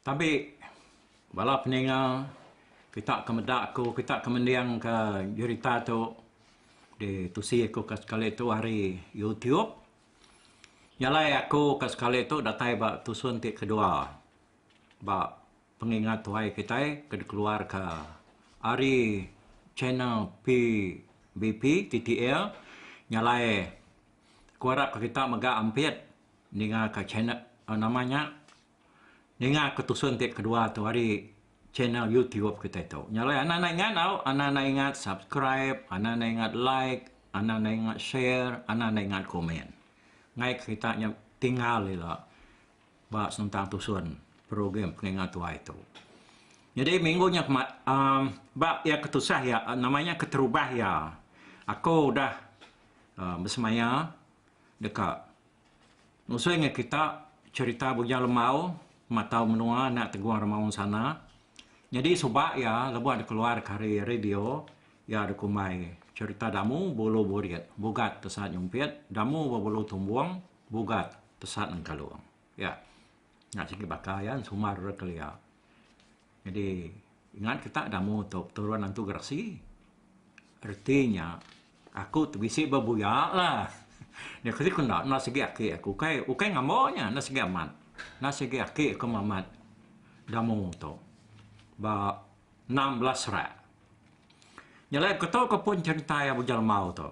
Tabi bala peninga kita ke meda ku kita ke mending ka berita tu di tusi ku ka sekali tu ari YouTube nyalai aku ka sekali tu datai ba tusun ti kedua ba Pengingat tuai kitai ke dikeluarka ari channel PBP TTL nya alai aku arapka kita mega ampit ningaka channel nama nya ningaka tusun ti kedua tu ari channel YouTube kitai tu. Nya alai anak enda ingat tau, anak enda ingat subscribe, anak enda ingat like, anak enda ingat share, anak enda ingat komen. Ngaika kita nya tinggal ila. ba sentang tusun program pengingat tuai tu. Nyadi minggu nya kema um, ba ya ketusah ya uh, nama nya keterubah ya. Aku udah uh, bersemaya deka nusui dengan kita cerita bujang lembau matau menua nak teguang remaung sana. Nyadi suba ya lebuh ada keluar kari radio ya ada kumbai cerita damu bulu burit bugat tesan nyumpit damu bulu tumbung Bugat pesan engkalung ya nya sigi baka iya sumar ura kelia. Jadi ngan kita da mu tu peturun antu gerasi reti nya aku ti bisi bebuya lah. Nya keri ku enda enda sigi aki aku ukai ukai ngambau nya enda sigi amat enda sigi aki aku mamat da mu tu ba enam belas rak. Nya alai ku tu ku pun cherita iya Bujang Lemau tu.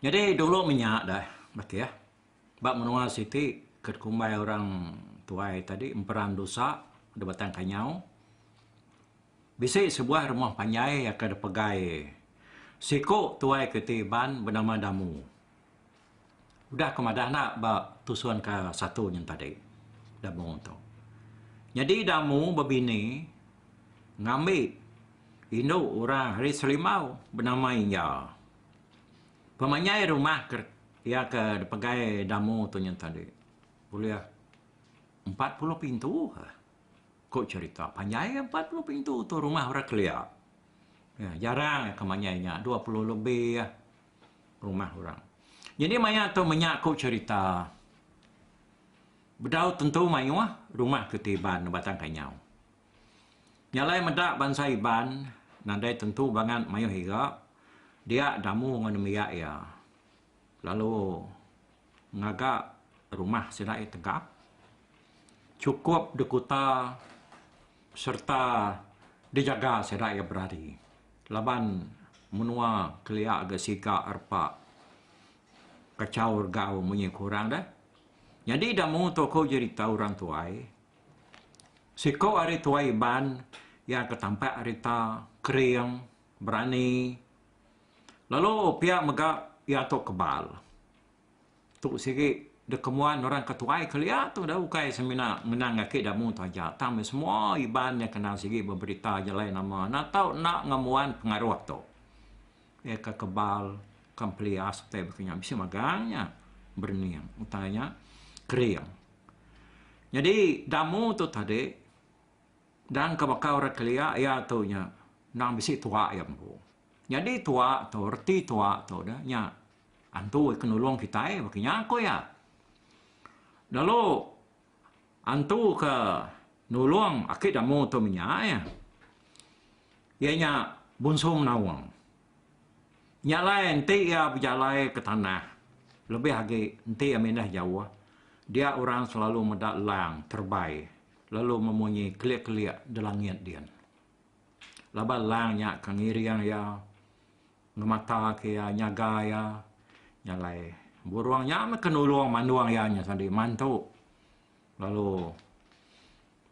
Nyadi dulu menya deh Bakih ba menua siti ke dikumbai orang tuai tadi Emperan Dusa da Batang Kanyau bisi sebuah rumah panjai ke dipegai siku tuai ke ti Iban benama Damu. Udah aku madah enda ba tusun ka satu nyin tadi da mung tu. Nyadi da mung bebini ngambi indu orang ari Selimau benama Inya. Pemanyai rumah ke iya ke dipegai da mung tu nyin tadi ulih empat puluh pintu ka ku cherita. Panjai iya empat puluh pintu tu rumah orang kelia. Jarang ka manyai nya dua puluh lebih. rumah orang. Nyadi maya tu menya aku cherita bedau tentu maioh rumah ke ti Iban batang kanyau. Nyalai meda bansa Iban nadai tentu bangat maioh iga dia damu ngan nembiak ia lalu ngaga rumah sida iya tegap chukup dikuta sereta dijaga sida iya berari laban menua kelia ga siga repa kachau regau munyi ku orang deh. Nyadi da mung tu aku jerita orang tuai siko ari tuai Iban iya ke tampak rita kering berani. Lalu pia mega iya tu kebal. Tu sigi dekemuan orang ke tuai kelia tu dah ukai semina ngenang aki Damu tu aja tang meh semua Iban iya kenal sigi ba berita jalai nama enda tau enda ngembuan pengaruh tu. Iya ke kebal ke pelias utai baka nya bisi magang nya berening utai nya kering. Nyadi Damu tu tadi Dan ke baka orang kelia iya tu nya endang bisi tuak iya empu. Nyadi tuak tu reti tuak tu dah nya antu ke nulung kitai baka nya ku iya. Lalu antu ke nulung aki damu tu menya iya. Iya nya bunsu menaung. Nya alai enti iya bejalai ke tanah lebih agi enti iya mindah jauh dia orang selalu meda lang terebai. lalu memunyi kelik-kelik delangit din. Laban lang nya ke ngiring iya, ngemataka iya, nyaga iya, nya alai burung nya meh ke nulung mandung iya nya sadi mantu lalu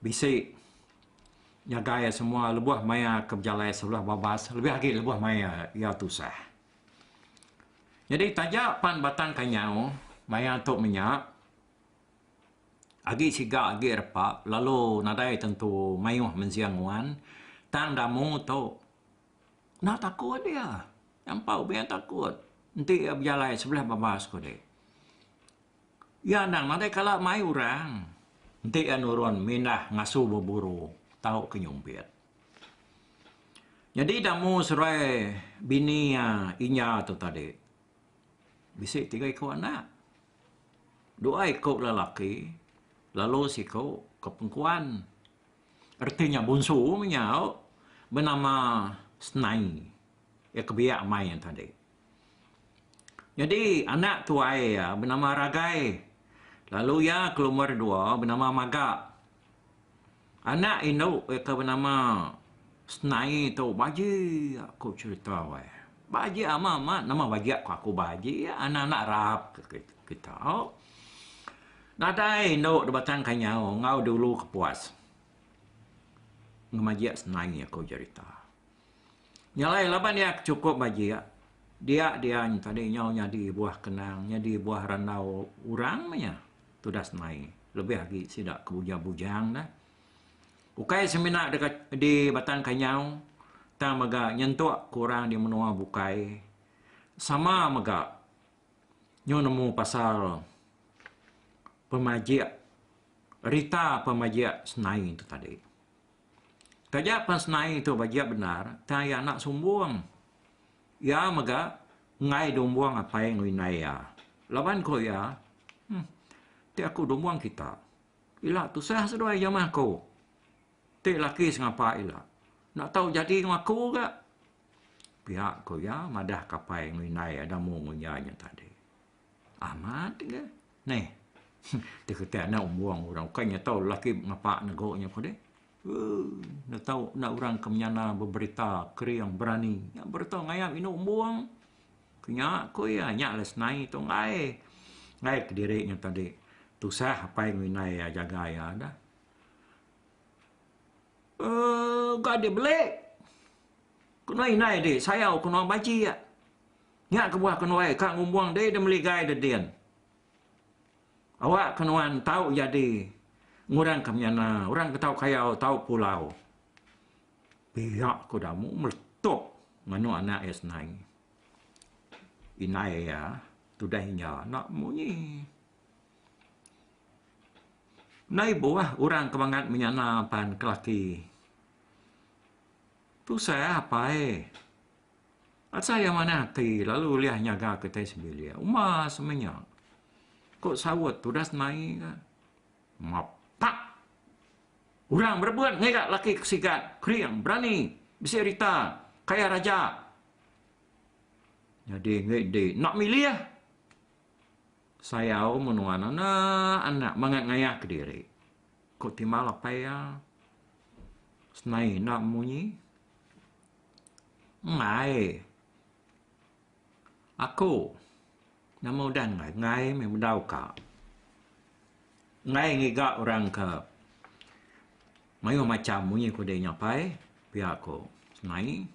bisi nyaga iya semua lebuh maya ke bejalai sebelah babas lebih agi lebuh maya iya tusah. Nyadi taja pan Batang Kanyau maya tu menya, Agi siga agi repa lalu nadai tentu mayuh menjing nguan tang damu tu enda takut dia nyampau be takut enti iya bejalai sebelah babas ku dek iya anang nadai kala mai orang enti iya nurun mindah ngasu beburu tau ke nyumpit nyadi damu seruai bini iya inya tu tadi bisi tiga iku anak. Dua iku lelaki lalu siku ke pengkuan. Reti nya bunsu menyau benama Senai. Iya ke biak mai iya tadi. Nyadi anak tuai iya benama Ragai lalu iya ke lumur dua benama Maga. Anak indu iya ke benama Senai tu baji aku cherita weh. Baji amat amat nama baji aku aku baji anak anak rap kita. Nadai indu da batang ka nyau enggau dulu ke puas ngemajik senai aku cherita. Nya alai laban iya ke chukup bajik dia dia tadi nyau nyadi buah kenang nyadi buah randau orang meh iya. tudas mai lebih agi sida ke bujang bujang dah ukai semina deka di batang kanyau tang mega nyentuk ke orang di menua bukai sama mega nyu nemu pasal pemajik rita pemajik senai tu tadi taja pen senai tu bajik bendar tang iya enda sumbung Iya mega enggai dumbuang apai enggau indai iya. Laban ku iya, Huh, ti aku dumbuang kita. Ila tusah seduai jemah aku. Ti laki sengapa ila. Enda tau jadi enggau aku ga. Pia ku iya madah ke apai enggau indai iya demu enggau iya nya tadi. Amat ga. Neh, ti kitai enda umbuong orang ukai nya tau laki ngapa nego nya ko deh. Enda tau enda orang ke menyana beberita kering berani. Nya bereto ngayap indu umbong ke nya ku iya nya alai senai tu enggai. Enggai kediri nya tadi tusah apai enggau indai iya jaga iya dah. Um uga di bele kenu indai di sayau kenu baji iya. Nya kebuah kenu ai ka ngumbong dei deh meli gai deh din. Awak ke nuan tau jadi ngurang ke menyana orang ke tau kayau tau pulau. Pia ku Damu meletup nganu anak iya senai. Indai iya tudah inya enda munyi. Enda ibuh orang ke mangat menyana pan ke laki. Tusah apai. Asa iya manah ati lalu ulih nyaga kitai sebilik. Uma semenya. Ko saut tudas mai ka. Mapak. Orang berebut ngiga laki ke sigat, kering, berani, bisi rita, kaya raja. Nyadi enggai di enda milih. Sayau menua anak anak mangat ngayah kediri. Ko timah lapai iya. Senai enda munyi. Ngai. Aku nama udah ngai, ngai meh bedau ka. Ngai ngiga orang ke mayuh macham munyi ku diri nya pai pia ku nai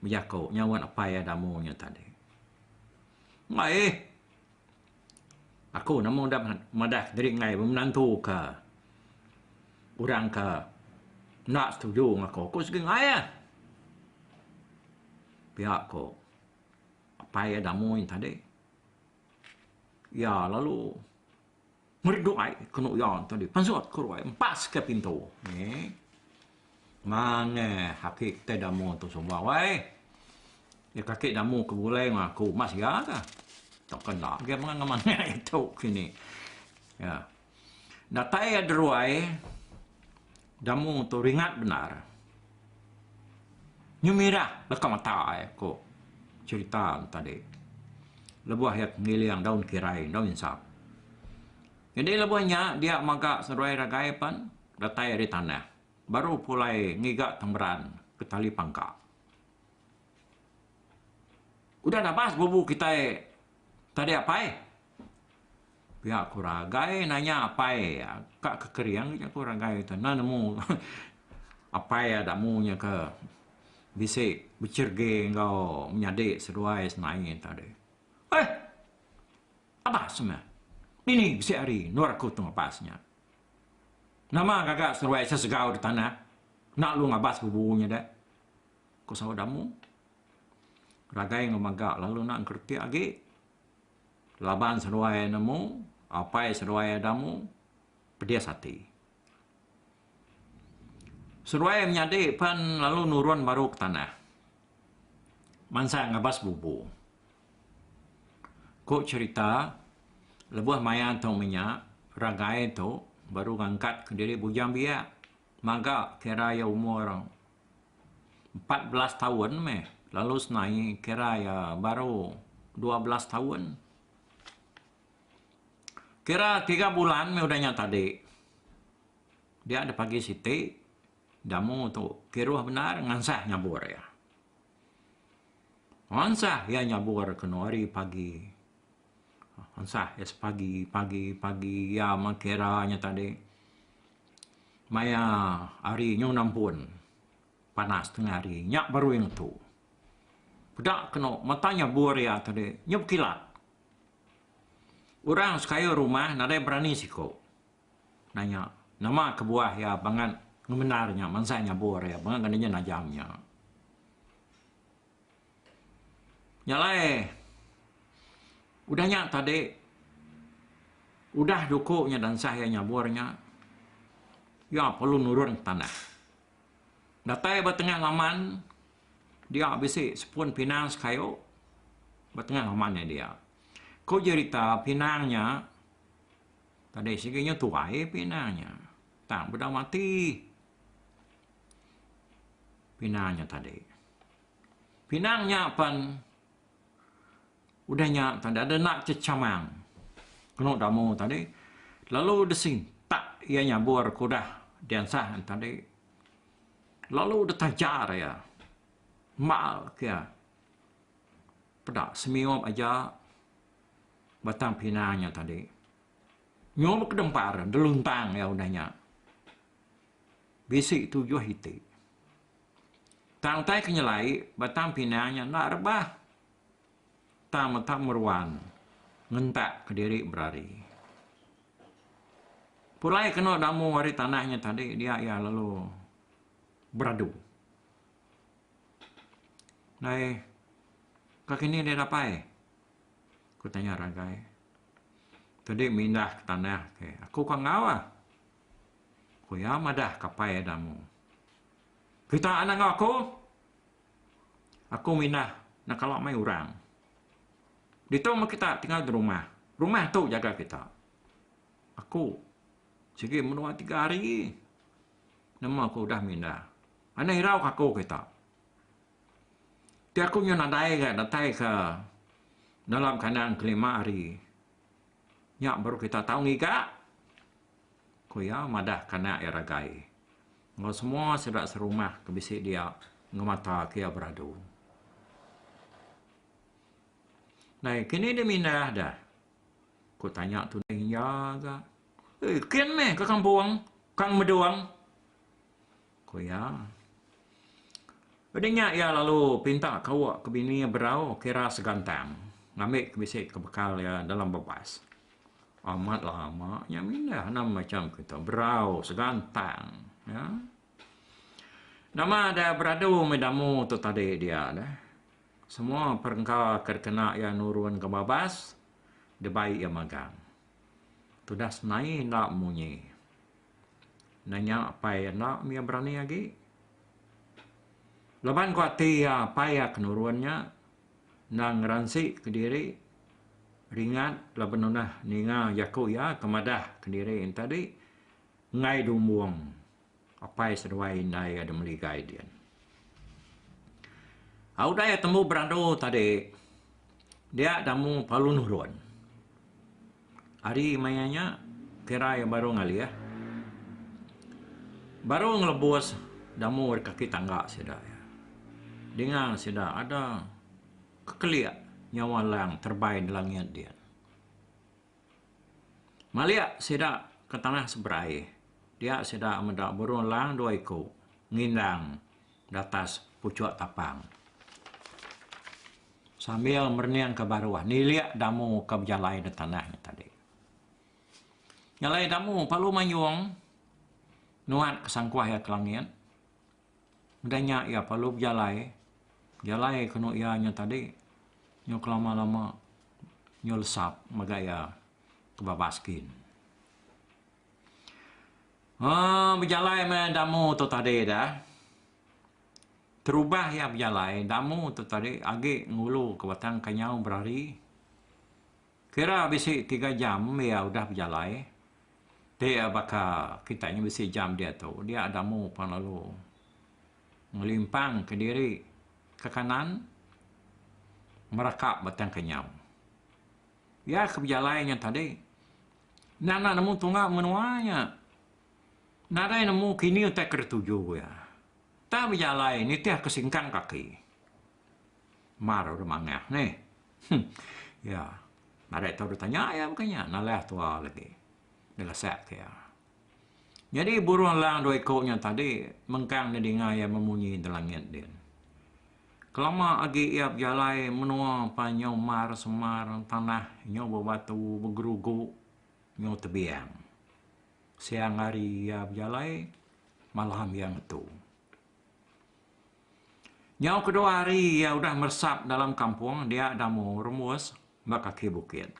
bejaku nyauan apai amu nya tadi. Ngai. Aku nama udah madah diri enggai menantu ka orang ka enda setuju ngan aku. Aku sigi enggai ah. Pia ko apai iya da mui tadi. Iya lalu meri duai kenu iya tadi. Pensut ke duai empas ka pintu. Nge. Manah kaki kitai damu tu suba wai. Iya kaki damu ke bulai ngan aku mas iya ka. Tok ke enda agi mangan ngan manah iya tu kini. Ya. Datai iya deruai damu tu ringat bendar. Nyu mirah leka mata iya ku cherita ne tadi. Lebuh iya ngiling daun kirai, daun insap. Jadi lebuh nya dia maga seruai ragai pen. Datai ari tanah. Baru pulai ngiga temberan ke tali pangka. Udah nabas bubu kitai tadi apai. Pia ku Ragai nanya apai iya ka kekering ja ku Ragai tu enda nemu apai iya dak mu nya ke bisi becherege enggau menyadi seduai senaie tadi. Heh. Abas meh. Dini bisi hari endor aku temu Abas nya? Nama gaga seruai asa segau di tanah enda alu ngabas ke bubu nya dek? ku saut Damu. Ragai enggau maga lalu enda ngeretik agi. Laban seruai nemu, apai seruai Damu, pedis ati. Seduai iya menyadi pan lalu nurun baru ke tanah mansa ngabas bubu. Ku cherita lebuh maya tu menya ragai tu baru ngangkat kediri bujang biak maga kira iya umur empat belas taun meh lalu senaie kira iya baru dua belas taun. Kira tiga bulan meh udah nya tadi. Dia deh pagi siti jamu tu kiruh bendar ngansah nyabur iya. Ngansah iya nyabur kenu hari pagi. Ngansah iya sepagi pagi pagi iya meh kira nya tadi maya hari nyu nampun panas tengah hari nya baru iya ngetu. Peda kenu mata nyabur iya tadi nyu bekilat. Orang sekayau rumah nadai berani siko nanya nama kebuah iya bangat ngemendar nya mansai nyabur iya bangat ngena nya najam nya. Nya alai udah nya tadi udah duko nya dansah iya nyabur nya iya perlu nurun ke tanah. Datai ba tengah laman dia bisi sepun pinang sekayu ba tengah rumah nya dia. Ku jerita pinang nya tadi sigi nya tuai pinang nya tang bedau mati pinang nya tadi. Pinang nya pen udah nya tadi ada enda chechamang kenu da mu tadi lalu disintak iya nyabur ke udah diansah tadi. Lalu ditajar iya. Mal ke iya. Peda semiyup aja batang pinang nya tadi. Nyuruh ke dempar deluntang iya udah nya. Bisi tujuh iti. Tang utai ke nyelai, batang pinang nya enda rebah. Tang meta meruan ngentak kediri berari. Pulai kenu damu ari tanah nya tadi dia iya lalu beradu. Dai ka kini dia dapai? Ku tanya Ragai. Tadi mindah ke tanah ke aku ka enggau ah. Ku iya madah kapai damu. Kita anak enggau aku? Aku mindah ndak kala mai orang. Ditu meh kita tinggal di rumah. Rumah tu jaga kita. Aku sigi menua tiga hari nama aku udah mindah. Anih irau ke aku kita. Ti aku nyau nadai ga datai ke dalam kandang ke lima hari nya baru kita tau ngiga. ku iya madah kanak iya ragai enggau semua sida serumah ke bisi dia ngemata ke iya beradu. Nai kini dia mindah dah? ku tanya tuning iya ga. Kin meh ka kampung, ka Medong. ku iya. Udah nya iya lalu pinta kawa ke bini berau kira segantang ngambi ke bisi ke bekal iya dalam bebas. Amat lama nya mindah anang macham ke tu berau segantang ya. Nama da beradu mih damu tu tadi dia deh. Semua perengka ke dikena iya nurun ke babas dibai iya magang. Tudah senai enda munyi. nanya apai iya enda meh iya berani agi. Laban ku ati iya apai iya ke nurun nya endang ngeransi kediri ringat laban tunah ninga jaku iya ke madah kediri nya tadi enggai dumbung apai seduai indai iya da meligai dian. Au udah iya tembu berandu tadi Dia tamu palu nurun. Ari maya nya kira iya baru ngalih. Baru ngelebus damu ari kaki tangga sida. Dinga sida ada kekelik nyawa lang terbay nda langit dia. Malik sida ke tanah seberai dia sida meda burung lang dua iku ngindang. Datas puchuk tapang sambil merening ke baruh nilik damu ke bejalai di tanah nya tadi. Nyalai damu palu manyung nuat ke sangkuh iya ke langit. Udah nya iya palu bejalai jalai ke nu iya nya tadi nyu kelama-lama nyu lesap mega iya ke babas gin. Aaa bejalai meh damu tu tadi dah. Terubah iya bejalai damu tu tadi agi ngulu ke batang ke nyau berari. Kira bisi tiga jam iya udah bejalai. Ti iya baka kita nya bisi jam diatu dia damu pan lalu ngelimpang ke diri ke kanan meraka batang ke nyau. Iya ke bejalai nya tadi. Nya enda nemu tunga menua nya. Nadai nemu kini utai ke dituju iya. Tang bejalai nitih ke singkang kaki. Mar dulu mangah nih. Huh. Iya. Nadai tau ditanya iya baka nya. Nalah tua lagi. Dilesak ke iya. Nyadi burung elang dua iku nya tadi mengkang nedinga iya memunyi di langit din. Kelama agi iya bejalai menua pan nyau mar semar tanah nyau bebatu begerugu nyau tebiang. Siang hari iya bejalai malam iya ngetu. Nyau kedua hari iya udah meresap dalam kampung dia Damu Rumus ba kaki bukit.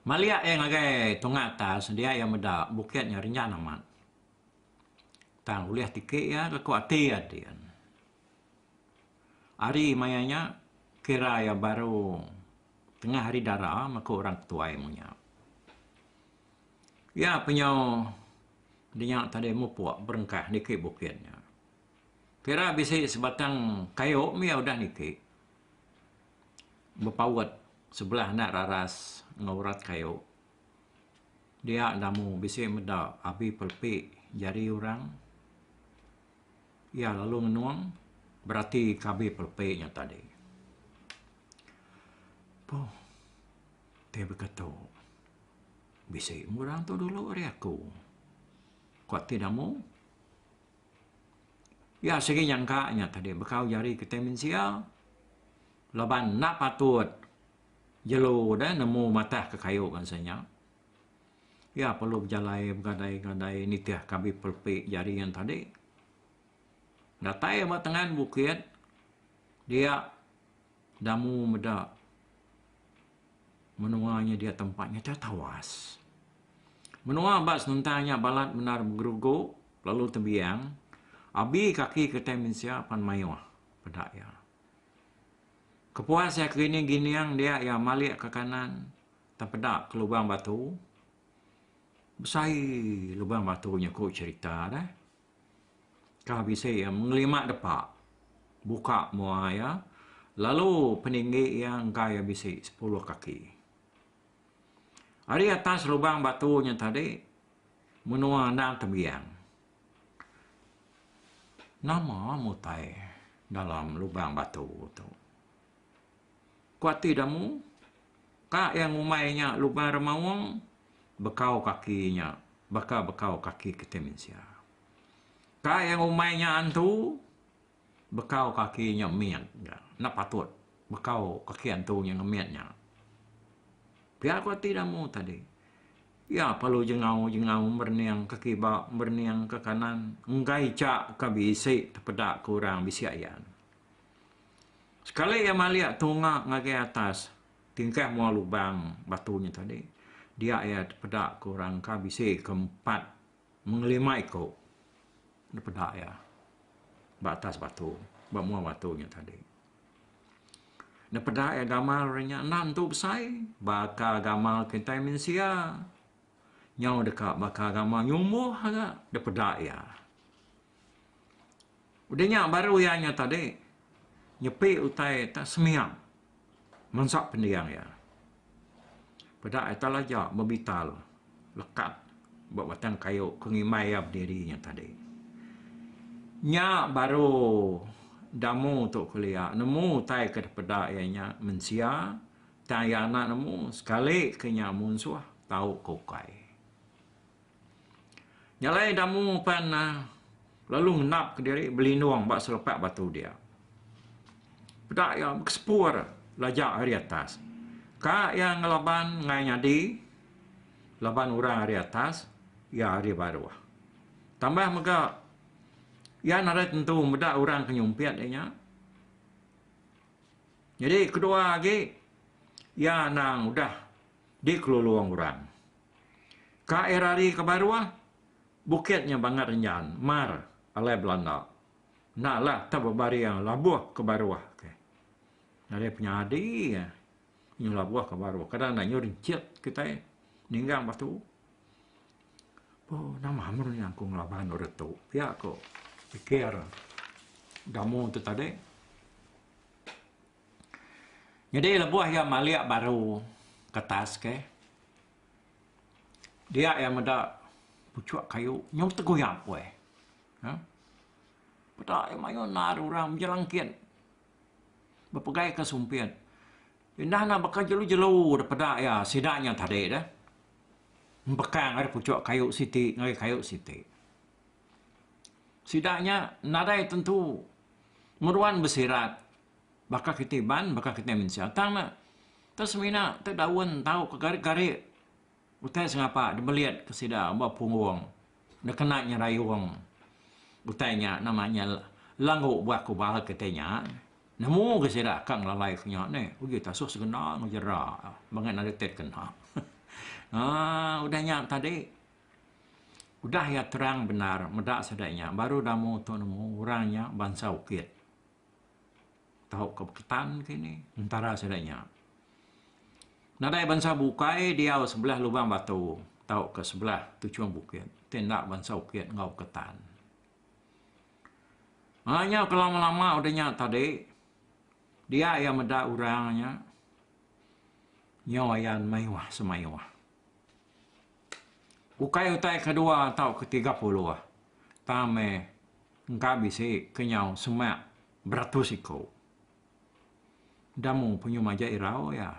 Maliak iya ngagai tunga atas sedia iya meda bukit nya renjan amat. Tang ulih tiki iya ke ku ati iya din. Ari maya nya kira iya baru tengah ari dara meh ku orang ketuai mung nya. Iya penyau di nya tadi mupuk berengkah niki bukit nya. Kira bisi sebatang kayu mih iya udah niki. bepaut sebelah enda raras enggau urat kayu dia enda mu bisi meda abi pelepi jari orang iya lalu ngenung berati ke abi pelepi nya tadi. Puh ti baka tu bisi mung orang tu dulu ari aku kuak ti ida mu. Pia sigi nyangka nya tadi bekau jari kitai mensia laban enda patut jelu deh nemu matah ke kayu bansa nya. Pia perlu bejalai begadai-gadai nitih ke abi pelepi jari nya tadi. Datai ba tengan bukit dia damu meda Menua nya dia tempat nya tau tawas. Menua ba senentang nya balat bendar begerugu lalu tebiang, abi kaki kitai mensia pan mayuh, peda iya. Kepuas iya kelining gining dia iya malik ke kanan tepeda ke lubang batu. Besai lubang batu nya ku cherita deh. Ka bisi iya mengelima depa buka mua iya, lalu peninggi iya engka iya bisi sepuluh kaki. Ari atas lubang batu nya tadi menua endang tembiang. Nama mutai dalam lubang batu tu? Ku ati Damu, ka iya ngumbai nya luban remaung bekau kaki nya baka bekau kaki kitai mensia. Ka iya ngumbai nya antu, bekau kaki nya mit ga. Enda patut bekau kaki antu nya ngemit nya. Pia ku ati Damu tadi. Iya perlu jengau-jengau merening ke kiba, merening ke kanan enggai chakka bisi tepeda ke orang bisi ayan. Sekali iya malik tunga ngagai atas tingkah mua lubang batu nya tadi, dia iya dipeda ku orang ka bisi ke empat mengelima iku dipeda iya ba atas batu ba mua batu nya tadi. Dipeda iya gamal ari nya enda nentu besai baka gamal kitai mensia nyau deka baka gamal nyumbuh aga dipeda iya. Udah nya baru iya nya tadi nyepi utai tak sembiang mansa pendiang iya. Peda ita laja bebital lekat ba batang kayu ke ngimbai iya bediri nya tadi. Nya baru Damu tu kelia nemu utai ke dipeda iya nya mensia tang iya enda nemu sekali ke nya munsuh tau ke ukai. Nyalai Damu pan lalu ngendapka diri belindung ba selepak batu dia. Peda iya bekesepur lajak ari atas. Ka iya ngelaban ngai nyadi laban orang ari atas iya ari baruh. Tambah mega iya nadai tentu meda orang ke nyumpit inya. Nyadi kedua agi iya anang udah dikelulung orang. Ka era ari ke baruh, bukit nya bangat renyan, mar, alai belanda. Enda la tau bebaring labuh ke baruh ke. Ari penyadi inya labuh ke baruh. Kadang enda inya rencit kitai ninggang batu. Po nama mun inya ku ngelaban ore tu. Pia ku pikir Damu tu tadi. Nyadi lebuh iya malik baru ke atas ke, dia iya meda puchuk kayu nyau tegui apui. Huh. Peda iya mayuh endar orang bejelangkit bepegai ke sumpit. Indah ne baka jelu-jelu dek peda iya sida nya tadi deh. Empekang ari puchuk kayu siti ngagai kayu siti. Sida nya nadai tentu meruan besirat baka kitai iban, baka kitai mensia. Tang ne, ke semina ti daun tau ke gari-gari utai sengapa dibelit ke sida ba punggung ne kena nyerayung utai nya nama nya langgu buah kubal kitai nya. Nemu ga sida ka ngelalai ke nya neh. Uji taso sekena ngejera mega nadai ti dikena. Aaa udah nya tadi. Udah iya terang bendar meda sida nya baru damu tu nemu orang nya bansa Ukit tau ke Beketan ke ini entara sida nya. Nadai bansa bukai diau sebelah Lubang Batu tau ke sebelah Tuchung Bukit ti enda bansa Ukit enggau Beketan. Aaa nya ke lama lama udah nya tadi dia iya meda orang nya nyau ayan mayuh semayuh. Ukai utai kedua tau ketiga puluh, tang meh engka bisi ke nyau semak beratus iku. Enda mu penyu majak irau iya.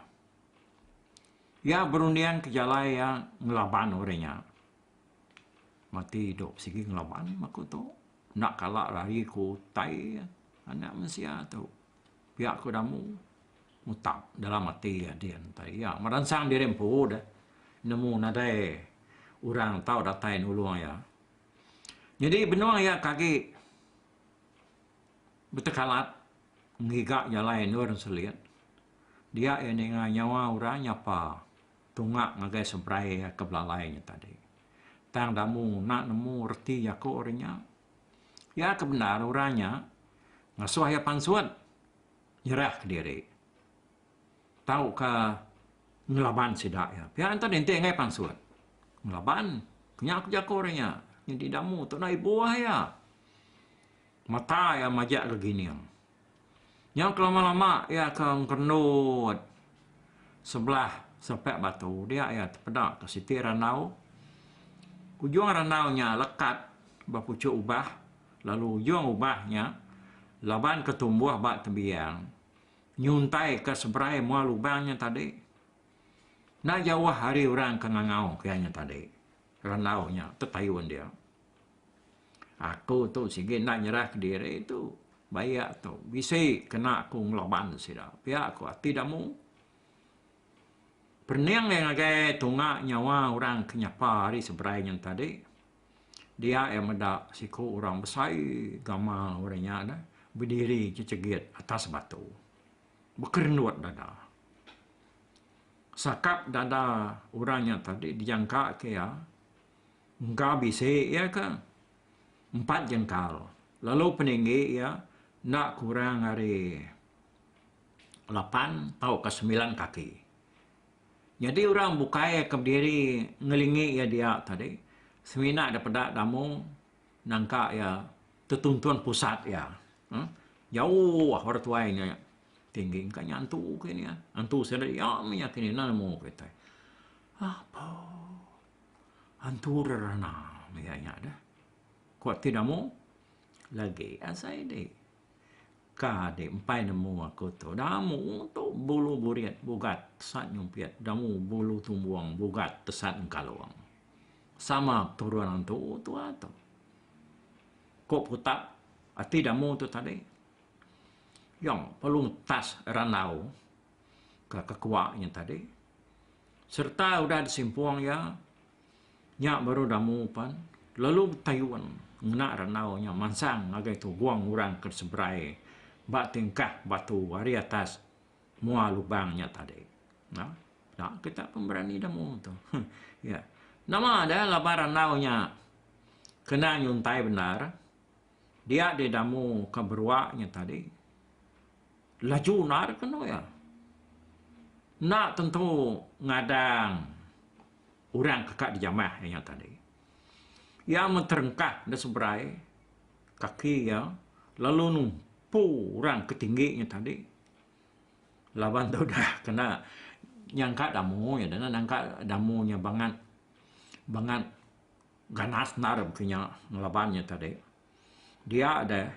Iya berunding ke jalai iya ngelaban orang nya. Mati dok sigi ngelaban aku tu. Enda kala lari ku utai anak mensia tu. pia ku damu mutap dalam ati adin tai iya meransang diri empu deh nemu nadai orang tau datai nulung iya. Nyadi benung iya ke agi betekalat ngiga jalai endur selit dia iya ninga nyawa orang nyapa tunga ngagai semperai iya ke belalai nya tadi. Tang damu enda nemu reti jaku ari nya. Iya ke bendar orang nya ngasuh iya pansut nyerahka diri tauka ngelaban sida iya. Pia ento ninting ai pansut ngelaban ku nya ku jaku orang nya nyadi damu tu enda ibuh iya. Mata iya majak ke gining. Nyau kelama-lama iya ke ngerendut sebelah sepak batu dia iya tepeda ke siti randau. Ujung randau nya lekat ba puchuk ubah lalu ujung ubah nya laban ke tumbuh ba tebiang nyuntai ke seberai mua lubang nya tadi. Enda jauh ari orang ke ngangau ke iya nya tadi randau nya tetayun dia. Aku tu sigi enda nyerah kediri tu bayak tu bisi kena aku ngelaban sida pia ku ati damu. Perening iya ngagai tunga nyawa orang ke nyapa ari seberai nyin tadi dia iya meda siku orang besai gamal enggau orang nya dah bediri jejegit atas batu bekerendut dada. Sakap dada orang nya tadi dijangka ke iya Engka bisi iya ke empat jengkal lalu peninggi iya enda kurang ari lapan tauka semilan kaki. Nyadi orang bukai ke bediri ngelingi iya dia tadi semina dek peda damu nangka iya tetuntun pusat iya. Uhh jauh orang tuai nya tinggi engka nya antu ke nya. Antu sida iya mih nya kini enda nemu kitai. Apo. Antu rerana mega nya deh. Ku ati namu lagi asai dih. Ka dih empai nemu aku tu. Namu tu bulu burit bugat tesat nyumpit. Namu bulu tumbong bugat tesat ngekalong. Sama peturun antu tu'a tu. Ku Putak, ati damu tu tadi. Yang perlu ngetas randau ke kekua nya tadi sereta udah disimpung iya nya baru damu pan lalu betayun ngena randau nya mansang ngagai tubung orang ke seberai ba tingkah batu ari atas mua lubang nya tadi na nya kita pun berani damu tu iya nama da laban randau nya kena nyuntai bendar dia didamu ke berua nya tadi Laju enda deh kenu iya. Enda tentu ngadang orang ke ka dijamah iya tadi. Iya amat terengkah nda seberai kaki iya lalu numpu orang ke tinggi nya tadi laban tu dah kena nyangka damu iya deh nangka damu nya bangat bangat ganas enda deh baka inya ngelaban iya tadi. Dia deh,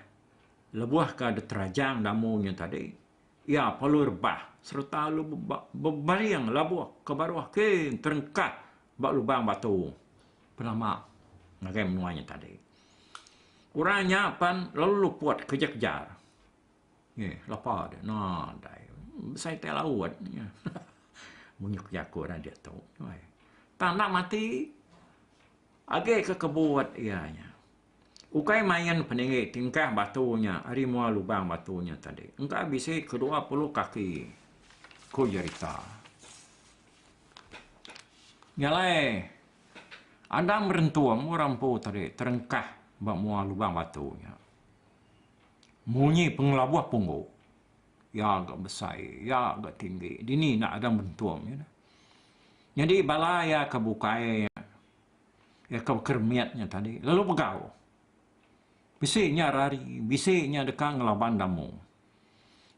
lebuh ka diterajang damu nya tadi, iya palui rebah sereta lalu bebaring labuh ke baruh king terengkah ba lubang batu penama ngagai menua nya tadi. Orang nya pan lalu luput kejar-kejar. Ye, lapa deh. Nadai. Besai tai laut. Munyuk jaku orang diatu. Tang enda mati. Agi ke kebut iya nya. Ukai main peninggi tingkah batu nya ari mua lubang batu nya tadi engka bisi ke dua puluh kaki, ku jerita. Nya alai, Andang Berentung orang empu tadi terengkah ba mua lubang batu nya. Munyi pengelabuh punggu. Iya ga besai, iya ga tinggi. Dini enda Andang Berentung nya dah. Nyadi bala iya ke bukai iya ke baka remit nya tadi lalu begau. Bisi nya rari, bisi nya deka ngelaban damu.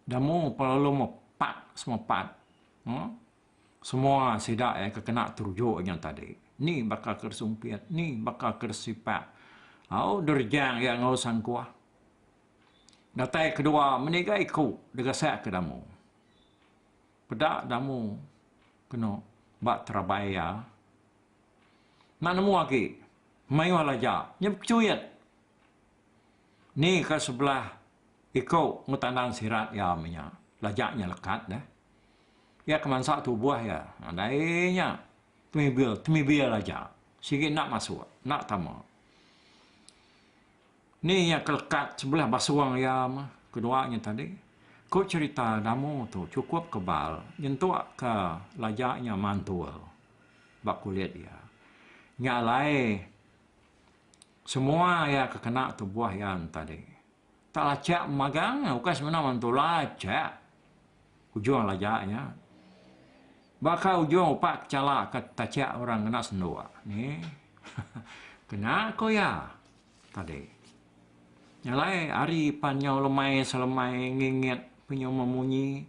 Damu pun lalu mepat semepat uhh semua sida iya ke kena teruju nya tadi. Ni baka ke sumpit, ni baka ke sipak au derejang iya enggau sangkuh. Datai kedua meniga iku degesakka damu. Peda Damu keno ba terabai iya. Enda nemu agi. Mayuh laja. Nya bekechuit. Ni ka sebelah iko enggau tandan sirat iya meh nya. Laja nya lekat deh. Iya ke mansa tubuh iya. Nadai nya. Temibil, temibil aja. Sigi enda masuk. Enda tama. Ni iya ke lekat sebelah basung iya meh ke dua nya tadi. Ku cherita Damu tu chukup kebal nyentuk ke laja nya mantul ba kulit iya. Nya alai semua iya ke kena tubuh iya tadi. Tak lachak magang nya ukai semina mantul lachak ujung laja nya. Baka ujung upak ke chala ke tachak orang kena senduk ni. Kena ku iya. Tadi. Nya alai ari pan nyau lemai selemai ngingit penyuma munyi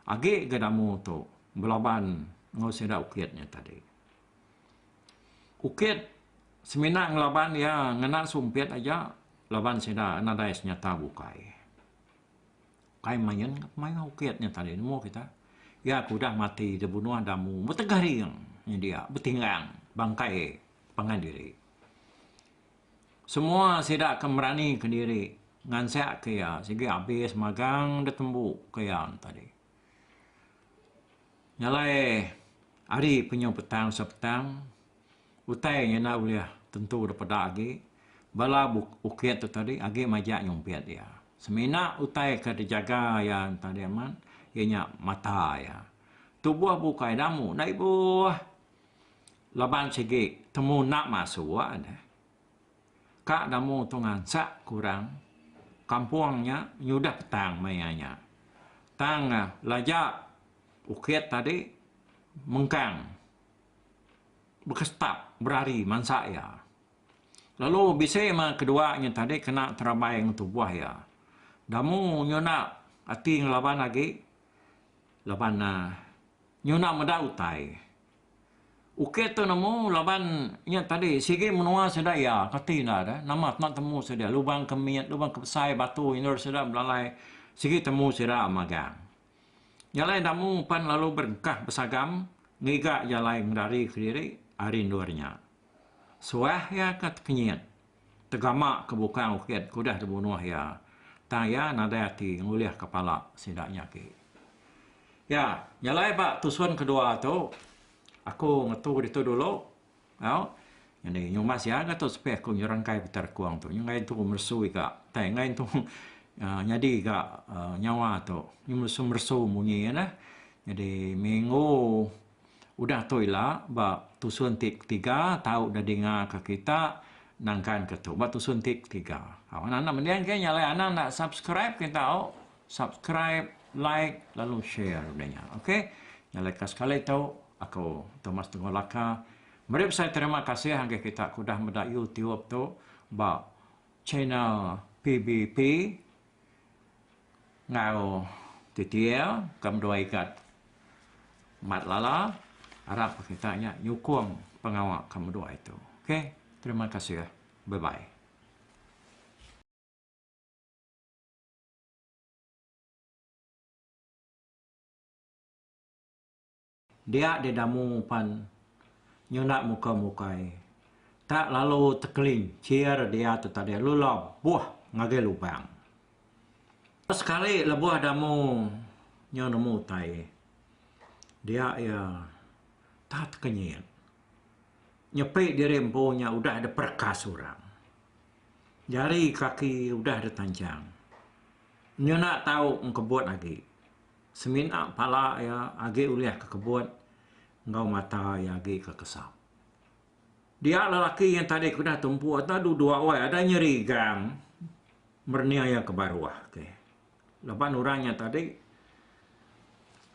agi ga damu tu belaban enggau sida ukit nya tadi. Ukit semina ngelaban iya ngena sumpit aja laban sida nadai senyata bukai. Kai main ga pemaioh ukit nya tadi nemu kita. Iya ke udah mati dibunuh damu betegering nya dia betinggang bangkai pangan diri. Semua sida ke meranika diri ngansakka iya sigi abis magang da tembu ku iya tadi. Nyalai ari penyu petang se petang utai nya enda ulih tentu da peda agi bala bukit tu tadi agi majak nyumpit iya. Semina utai ke dijaga iya tadi amat iya nya mata iya. Tubuh bukai damu enda ibuh. Laban sigi temu enda masuk neh. Ka namu tu ngansak ke orang kampung nya nyudah petang maya nya. Tang laja ukit tadi mengkang bekestap berari mansa iya. Lalu bisi meh kedua nya tadi kena terabai ngan tubuh iya. Namu nyu enda ati ngelaban agi laban uhh Nyuna meda utai. Uke tu nemu laban nya tadi sigi menua sida iya kati enda ada nama tena temu sida lubang ke mit lubang ke besai batu endur sida belalai sigi temu sida magang. Jalai enda mu pan lalu berengkah besagam ngiga jalai ngendari kediri ari endur nya. Suah iya ke tekenyit, tegama ke bukang ukit ke udah dibunuh iya, tang iya nadai ati ngulihka pala sida nya agi. Ya, nyelai ba tusun kedua tu, aku ngetu ditu dulu, au, nyadi nyuma sia ga tu sepih aku nyerengkai peti rekung tu, enggai entu meresu iga, tai enggai entu nyadi ga nyawa tu, meresu-meresu munyi neh. Nyadi minggu. Udah tu ila ba tusun ti ketiga tau dedinga ka kita nangkan ka tu ba tusun ti ketiga. Au anak anak mending ke nya alai anak enda subscribe ke tau subscribe like lalu share udah nya ok nya alai ka sekali tu aku Thomas Tungau Laka meri besai terima kasih ngagai kita ke udah meda youtube tu ba channel PBP Enggau TTL ke menua Igat Mat Lala arap kita nya nyukung pengawa ke menua itu. Ok terima kasih bye bye. Dia di damu pan nyunak muka mukai. Tak lalu tekelincir dia tu tadi lalu labuh ngagai lubang. Sekali lebuh damu nyau nemu utai dia iya tak tekenyit. Nyepi diri empu nya udah dipereka seorang. Jari kaki udah ditanjang. Nyunak tau engkebut agi. semina pala iya agi ulih ke kebut enggau mata iya agi ke kesam. Dia lelaki yang tadi ku udah tumpu atu du dua wai ada nyeri gang merening iya ke baruh ke laban orang nya tadi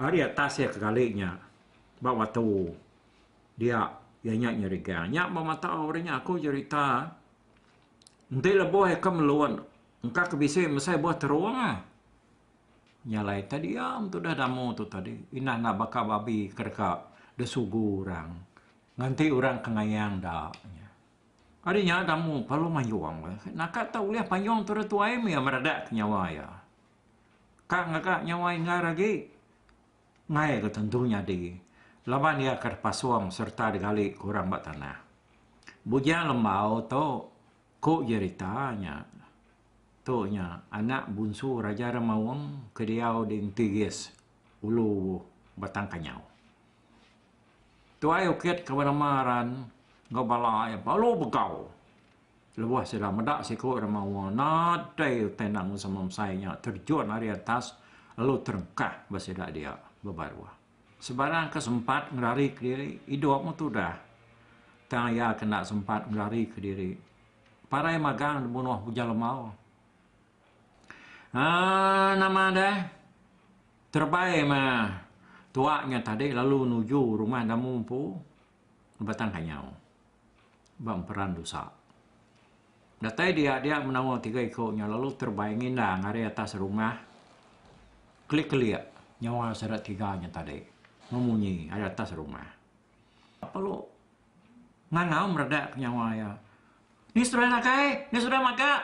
ari atas iya ke kali nya ba batu dia iya nya nyeri gang nya ba mata orang nya aku jerita enti lebuh iya ke melun engka ke bisi mesai buh terung. Nya alai ta diam tudah damu tu tadi indah enggau baka babi ke deka desugu orang nganti orang ke ngayang da nya. Ari nya damu perlu mayong bah. Naka ta ulih payong tu tuai mih iya meredak ke nyawa iya. Ka ngaga nyawa inggar agi ngai ga tentu nyadi laban iya ke dipasong sereta digali ke orang ba tanah. Bujang lembau tu Ku jerita nya, tu nya anak bunsu Raja Remaung ke diau di Entigis, Ulu Batang Kanyau. Tuai Ukit ke benama Aran enggau bala iya balu begau lebuh sida meda siku orang mawa nadai utai enda enggau sama mesai nya terjun ari atas lalu terengkah ba sida dia bebaruh. Sebarang ke sempat ngerarika diri idup meh tudah tang iya ke enda sempat ngerarika diri parai magang dibunuh Ujan Lemau. Aaa nama deh terebai meh tuak nya tadi lalu nuju rumah Damu empu. Batang Kanyau ba emperan Dusa. Datai dia dia menawa tiga iku nya lalu terbay nginda ngari atas rungah kelik-kelik nyawa sida tiga nya tadi memunyi ari atas rungah. Pelu ngangau meredak ke nyawa iya. Ni seduai nakai, ni seduai maga.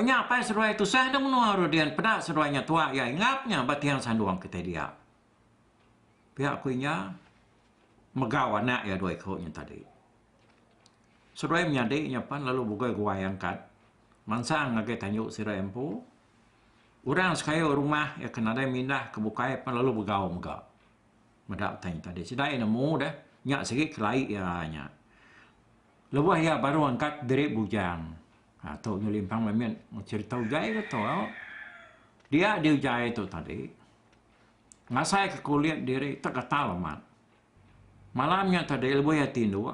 Nya apai seduai tusah enda menua Rodian peda seduai nya tuak iya ingap nya ba tiang sandung kitai dia. pia ku inya megau anak iya dua iku nya tadi. Seduai menyadi nya pan lalu bugoi guai angkat mansang ngagai tanju sida iya empu. Orang sekayu rumah iya ke nadai mindah ke bukai pan lalu begau mega. Meda utai nya tadi sida iya nemu deh nya sigi kelai iya nya. Lebuh iya baru angkat diri bujang. Ha tu nyau limpang meh mit cherita ujai ke tu. Dia di ujai tu tadi ngasaika kulit diri tau katal amat. Malam nya tadi lebuh iya ti indu,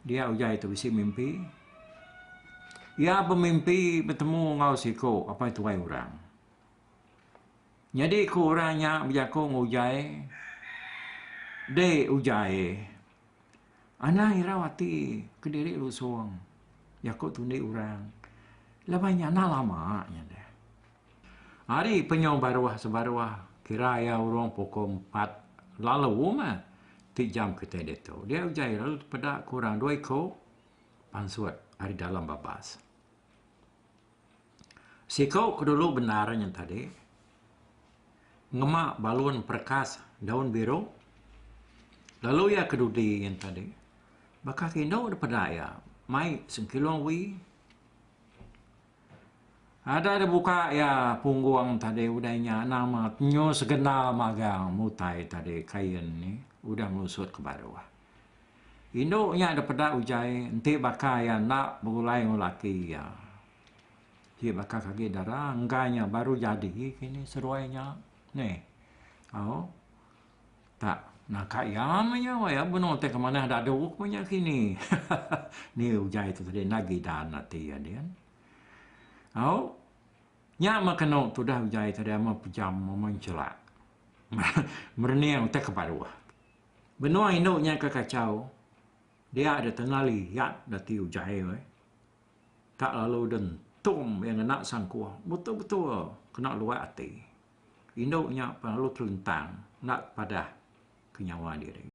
dia uja tu bisi mimpi. Iya bemimpi betemu enggau siku apai tuai orang. Nyadi ku orang nya bejaku enggau ujai, Deh ujai, anang irau ati kediri lusung jaku tundi orang laban nya anang lama nya deh. Ari penyau baruh sebaruh, kira iya urung pukul empat lalu mah ti jam kitai ditu. Dia uja iya lalu tepeda kurang dua iku pansut ari dalam babas. Siku ke dulu bendar nya tadi ngema balun perekas daun biru lalu iya ke dudi nya tadi baka ke indu depeda iya mai sengkilung wee. Ada da buka iya punggung tadi udah inya nama tenyu segenal magang mutai tadi kain nih udah melusut ke baruh. Indu nya da peda ujai enti baka iya enda begulai enggau laki iya. Ti baka ke agi dara enggai nya baru jadi kini seruai nya nih. Au. Tak, naka iya meh nya wai iya benung ti ke manah dadu ku nya kini. ni ugai tu tadi enda gidan ati iya din. Au. Nya meh kenu tudah ugai tadi ama pejam ama nchelak. Merening utai ke baruh. Benung indu nya ke kachau. Dia da tengah liat da ti ugai weh. Tak lalu da entum iya ngena sangkuh. Betul-betul kena luat ati. indu nya pengalu telentang enda tepadah ke nyawa diri.